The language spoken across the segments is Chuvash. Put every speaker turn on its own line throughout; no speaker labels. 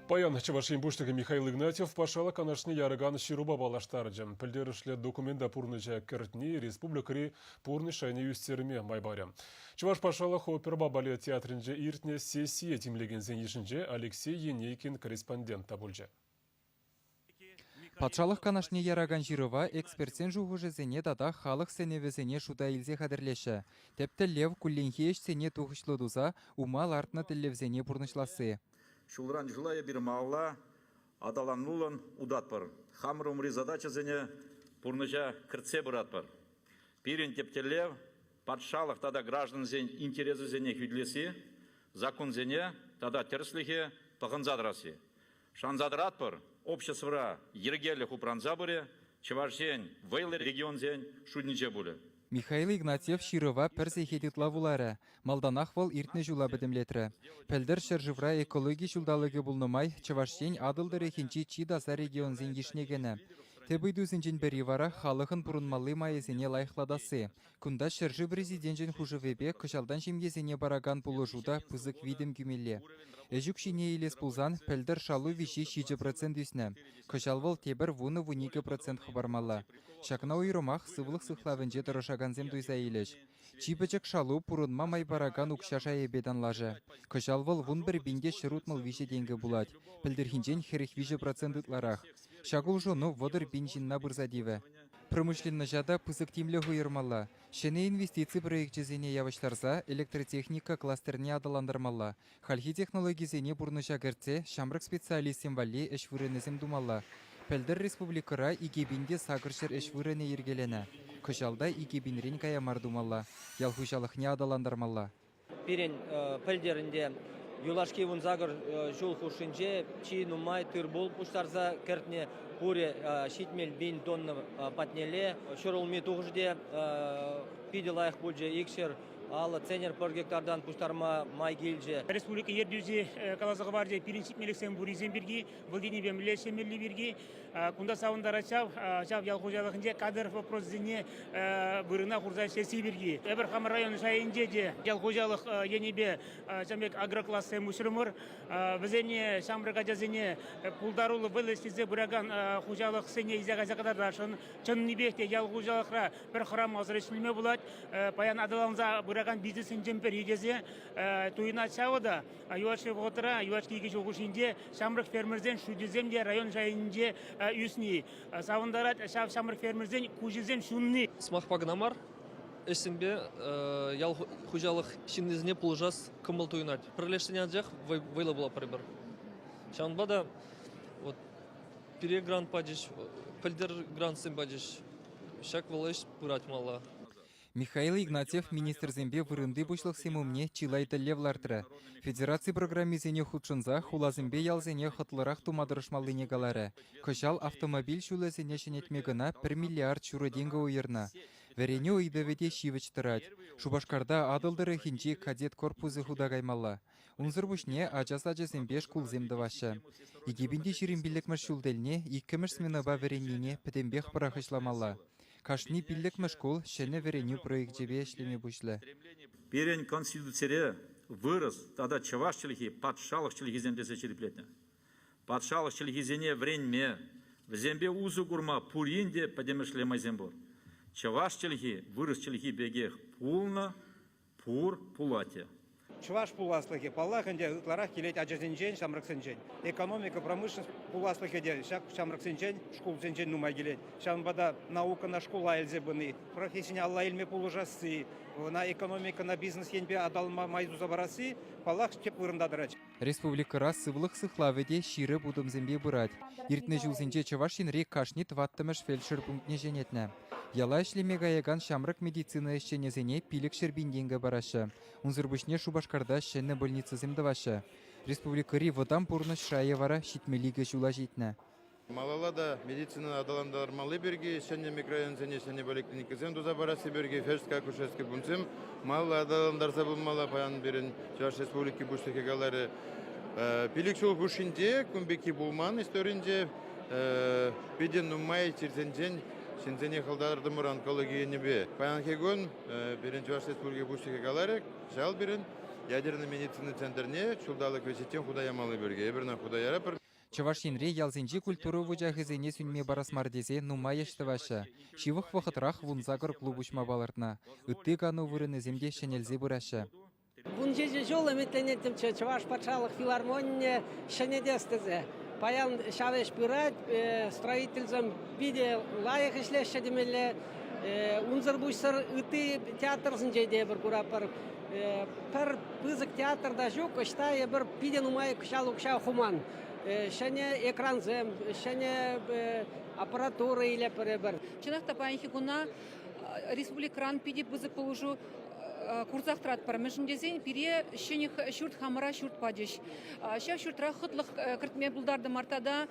Паян Чӑваш Ен Пуҫлӑхӗ Михаил Игнатьев Патшалӑх Канашне яракан ҫырупа паллаштарчӗ. Пӗлтерӗшлӗ документа пурнӑҫа кӗртни республикӑри пурнӑҫ шайне ӳстерме май парӗ. Чӑваш патшалӑх опера балет театрӗнче иртнӗ сессие тимлекенсен йышӗнче Алексей Енейкин корреспондент та пулчӗ.
Патшалӑх канашне яракан ҫырӑва экспертсен шухӑшӗсене тата халӑх сӗнӗвӗсене шута илсе хатӗрлеҫҫӗ. Тӗп тӗллев кулленхи ӗҫсене тухӑҫлӑ туса ума лартнӑ тӗллевсене пурнӑҫласси. Ҫулран ҫула
эпир малалла аталануллӑн утатпӑр, хамӑр умри задачӑсене пурнӑҫа кӗртсе пыратпӑр. Пирӗн тӗп тӗллев, патшалӑх тата граждансен интересӗсене хӳтӗлесси, законсене тата тӗрӗслӗхе пӑхӑнса тӑрасси. Шанса тӑратпӑр, обществӑра йӗркелӗх упранса пырӗ, Чӑваш Ен вӑйлӑ регионсен шутӗнче пулӗ. Михаил Игнатьев
ҫырӑва пӗр сехет ытла вуларӗ. Малтанах вӑл иртнӗ ҫула пӗтӗмлетрӗ. Пӗлтӗр ҫӗршывра экологи ҫулталӑкӗ пулнӑ май Чӑваш Ен Атӑл тӑрӑхӗнчи чи таса регионсен йышне кӗнӗ. Тӗп ыйтусенчен пӗри вара халӑхӑн пурӑнмалли майӗсене лайӑхлатасси, Кунта ҫӗршыв Президенчӗн хушӑвӗпе кӑҫалтан ҫемьесене паракан пулӑшу та пысӑк витӗм кӳмелле. Ӗҫ укҫине илес пулсан пӗлтӗр шалу виҫи ҫичӗ процент ӳснӗ. Кӑҫал вӑл тепӗр вунӑ-вуникӗ процент хӑпармалла. Ҫакна уйрӑмах сывлӑх сыхлавӗнче тӑрӑшакансем туйса илӗҫ. Чи пӗчӗк шалу пурӑнма май паракан укҫа шайӗпе танлашӗ. Кӑҫал вӑл вун пӗр пинте ҫӗр утмӑл виҫӗ тенкӗ пулать. Пӗлтӗрхинчен хӗрӗх виҫӗ процент ытларах. Ҫак улшӑну вӑтӑр пин ҫынна пырса тивӗ. Промышленноҫа та пысӑк тимлӗх уйӑрмалла, ҫӗнӗ инвестици проекчӗсене явӑҫтарса электротехника кластерне аталантармалла, хальхи технологисене пурнӑҫа кӗртсе ҫамрӑк специалистсем валли ӗҫ вырӑнӗсем тумалла. Пӗлтӗр республикӑра икӗ пин те сакӑр ҫӗр ӗҫ вырӑнӗ йӗркеленӗ. Кӑҫал та икӗ пинрен кая мар тумалла, ял хуҫалӑхне аталантармалла. Пирӗн
пӗлтӗрӗнте юлашки вунсакӑр ҫул хушшинче чи нумай тыр-пул пуҫтарса кӗртнӗ пурӗ ҫитмӗл пин тонна патнелле. Ҫӗр улми тухӑҫӗ те питӗ лайӑх пулчӗ. Икҫӗр аллӑ центнер пӗр гектартан пуҫтарма май килчӗ. Республика ертӳҫи
каласа хӑварчӗ пирӗн ҫитмелӗхсем пуррисем пирки. вӑл енӗпе мӗнле ӗҫлемелли пирки кунта савӑнтарать ҫав, ҫав ял хуҫалӑхӗнче кадр вопросӗсене вырӑна хурса ӗҫлесси пирки. Эпир хамӑр район шайӗнче те ял хуҫалӑх енӗпе ҫав пек агроклассем уҫрӑмӑр. Вӗсене ҫамрӑк ачасене пултаруллӑ вӑй илсе пыракан хуҫалӑхсене илсе кайса кӑтартасшӑн. Чӑннипех те ял хуҫалӑхра пӗр храм асӑр ӗҫлеме пулать. Паян аталанса пыракан бизнесӗнчен пӗри тесе туйӑнать ҫавӑ та. юлашки вӑхӑтра юлашки икӗ ҫул хушшинче ҫамрӑк фермерсен шутӗсем те район шайӗнче ӳсни савӑнтарать ҫав ҫамрӑк фермерсен куҫӗсем ҫунни. Сӑмахпа кӑна мар,
ӗҫсемпе ял хуҫалӑх ҫыннисене пулӑшас кӑмӑл туйӑнать. Пӗрлешсен анчах вӑйлӑ пулать пӗр-пӗр. Ҫавӑнпа та вот пире грант пачӗҫ, пӗлтер грантсем пачӗҫ. Ҫак вӑл ӗҫ пырать малла. Михаил
Игнатьев министрсемпе вырӑнти пуҫлӑхсем умне чылай тӗллев лартрӗ. Федераци программисене хутшӑнса хуласемпе ялсене хӑтлӑрах тума тӑрӑшмаллине каларӗ. Кӑҫал автомобиль ҫулӗсене ҫӗнетме кӑна 1 миллиард ҫурӑ тенкӗ уйӑрнӑ. Вӗренӳ ыйтӑвӗ те ҫивӗч тӑрать. Шупашкарта Атӑл тӑрӑхӗнчи кадет корпусӗ хута каймалла. Унсӑр пуҫне ача сачӗсемпе шкулсем тӑваҫҫӗ. Икепинти ҫирӗм пиллӗкмӗш ҫул тӗлне иккӗмӗш сменӑпа вӗреннине пӗтӗмпех пӑрахӑҫламалла. Кашни пиллӗкмӗш шкул ҫӗнӗ вӗренӳ проекчӗпе ӗҫлеме пуҫлӗ. Пирӗн
Конституцире вырӑс тата чӑваш чӗлхи патшалӑх чӗлхисем тесе ҫирӗплетнӗ. Патшалӑх чӗлхисене вӗренме, вӗсемпе усӑ курма пурин те пӗтӗмӗшле майсем пур. Чӑваш чӗлхи вырӑс чӗлхи пекех пулнӑ, пур пулать-и? Чӑваш
пуласлӑхӗ, паллах ӗнтӗ, ытларах килет ачасенчен, ҫамрӑксенчен. Экономика, промышленность пуласлӑхӗ те ҫак ҫамрӑксенчен, шкулсенчен нумай килет. Ҫавӑнпа та наукӑна шкула илсе пыни, профессине алла илме пулӑшасси, ӑна экономикӑна бизнес енпе аталанма май туса парасси паллах тӗп вырӑнта тӑрать. Республикӑра
сывлӑх сыхлавӗ те ҫирӗп утӑмсемпе пырать. Иртнӗ ҫулсенче Чӑваш Енри кашни тӑваттӑмӗш фельдшер пунктне ҫӗнетнӗ. Яла ӗҫлеме каякан ҫамрӑк медицина ӗҫченӗсене пилӗкҫӗр пин-тенкӗ параҫҫӗ. Унсӑр пуҫне Шупашкарта ҫӗнӗ больницӑсем тӑваҫҫӗ. Республикӑри вӑтам пурнӑҫ шайӗ вара ҫитмӗл икӗ ҫула ҫитнӗ. Малалла та
медицинӑна аталантармалли пирки ҫӗнӗ микрорайонсене ҫӗнӗ поликлиникӑсем туса парасси пирки Хӗрск акушерски пунктсем малалла аталантарса пымалла, паян пирӗн Чӑваш Республики Пуҫлӑхӗ каларӗ. Пилӗк ҫул хушшинче кун пекки пулман историнче питӗ нумай чирсенчен ҫынсене хӑлтартӑмӑр онкологи енӗпе. Паянхи кун пирӗн Чӑваш Республики Пуҫлӑхӗ каларӗ, кӑҫал пирӗн ядернӑй медицина центрне ҫулталӑк вӗҫӗччен хута ямалли пирки. Эпир ӑна хута яратпӑр. Чӑваш Енре ялсенчи
культура вучахӗсене сӳнме парас мар тесе нумай ӗҫ тӑваҫҫӗ. Ҫывӑх вӑхӑтрах вунсакӑр клуб уҫма палӑртнӑ. Ытти кану вырӑнӗсем те ҫӗнелсе пыраҫҫӗ. Вун ҫичӗ
ҫул ӗмӗтленеттӗмччӗ Чӑваш патшалӑх филармонийӗ ҫӗнетес тесе. Паян ҫав ӗҫ пырать, строительсем питӗ лайӑх ӗҫлеҫҫӗ темелле. Унсӑр пуҫсӑр ытти театрсенче те эпир куратпӑр. Пӗр пысӑк театр та ҫук, ӑҫта эпир питӗ нумай кӑҫал укҫа хуман. Ҫӗнӗ экрансем, ҫӗнӗ аппаратура илетпӗр эпир. Чӑнах та паянхи
куна республикӑран питӗ пысӑк пулӑшу курсах тӑратпӑр, мӗншӗн тесен пире ҫӗнӗ ҫурт хамӑра ҫурт пачӗҫ. Ҫав ҫуртра хӑтлӑх кӗртме пултартӑмӑр тата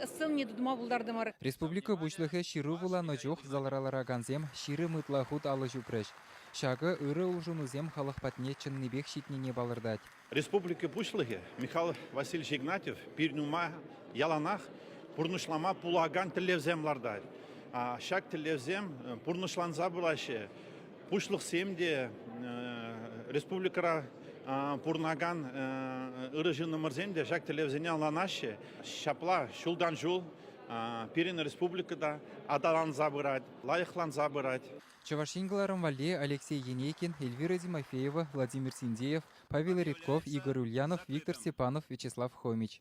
сцени тытма пултартӑмӑр. Республика Пуҫлӑхӗ
ҫыру вуланӑ чух залра ларакансем ҫирӗм ытла хут алӑ ҫупрӗҫ. Ҫакӑ ырӑ улшӑнусем халӑх патне чӑннипех ҫитнине палӑртать. Республика
Пуҫлӑхӗ Михаил Васильевич Игнатьев пирӗн-ума яланах пурнӑҫлама пулакан тӗллевсем лартать. Ҫак тӗллевсем пурнӑҫланса пыраҫҫӗ. Пуҫлӑхсем те республикӑра пурӑнакан ырӑ ҫыннӑмӑрсем те ҫак тӗллевсене ӑнланаҫҫӗ. Ҫапла ҫултан-ҫул пирӗн республика та аталанса пырать, лайӑхланса пырать. Чӑваш Ен кӑларӑм
валли Алексей Енейкин, Эльвира Тимофеева, Владимир Синдеев, Павел Редков, Игорь Ульянов, Виктор Степанов, Вячеслав Хомич.